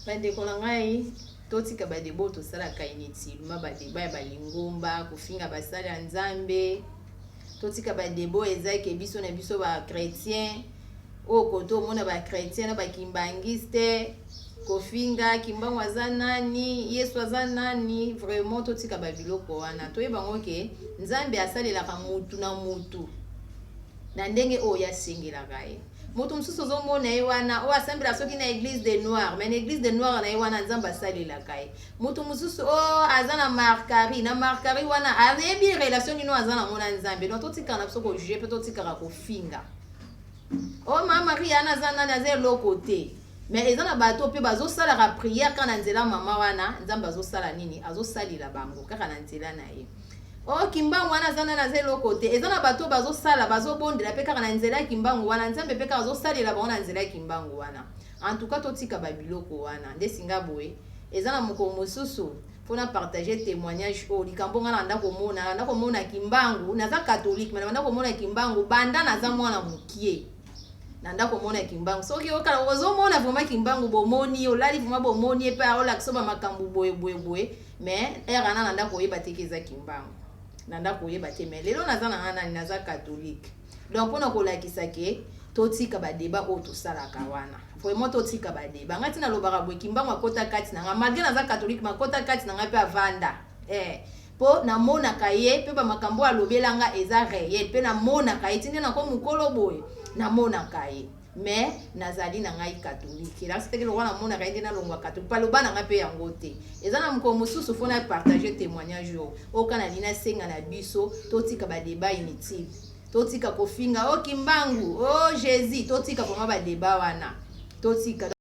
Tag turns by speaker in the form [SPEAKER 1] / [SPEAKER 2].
[SPEAKER 1] bandeko na ngai totika badeba oyo tosalaka initilema badeba ya balingomba kofinga basali ya nzambe totika badeba oyo ezaki biso na biso bachrétien oyo kote omona bachrétien na bakimbangiste kofinga kimbangu aza nani yesu aza nani vraiment totika babiloko wana toyeba yango ke nzambe asalelaka mutu na mutu Na ndenge oyo asengelaka ye. Mutu mususu ozo mona ye wana, oyo asambela soki na eglise de noir, mais na eglise de noir na ye wana Nzambe asalelaka ye. Mutu mususu oh aza na markari, na markari wana ayebi relation nini oyo aza nango na Nzambe. Donc totikala na biso ko juger pe totikaka ko finga. Oh ma Maria wana aza nani, aza eloko te. Mais eza na bato pe bazo salaka prière kaka na nzela mama wana, Nzambe azo sala nini? Azo salela bango kaka na nzela na ye. o oh, kimbangu wana aza nani aza eloko te eza na bato bazosala bazobondela mpe kaka na nzela ya kimbangu wana nzambe mpe kaka azosalela bango na nzela ya kimbangu wana en tout cas totika babiloko wana nde singa boye eza na mokolo mosusu mpo na partage témoignage oyo likambo ngai nabanda komona nabanda komona kimbangu naza katholike ma nabanda komona kimbangu banda naza mwana mokie na ndako omona kimbangu soki ozomona vraimen kimbangu bomoni olali vraimen bomoni epai olakisa ba makambo boye boye boye mais heure wana na ndako oyeba te ke eza kimbangu na ndako oyeba te mais lelo naza nanga nani naza catholique donc mpona kolakisa ke totika badeba oyo tosalaka wana vraiment totika badeba ngai ntina alobaka boye kimbangu akota kati na ngai malgre naza catholique makota kati na ngai mpe avanda eh. mpo namonaka ye mpe bamakambo alobelanga eza reel mpe namonaka ye ti nde nako mokolo boye namonaka ye mais nazali na ngai katolike na siteke lokola namonaka ye nde nalongwa katolike paloba na ngai mpe yango te eza na mokolo mosusu mpo na partage témoignage oyo oyoka na lina senga na biso totika badeba inutile totika kofinga o oh, kimbangu o oh, jésus totika vraimen badeba wana totika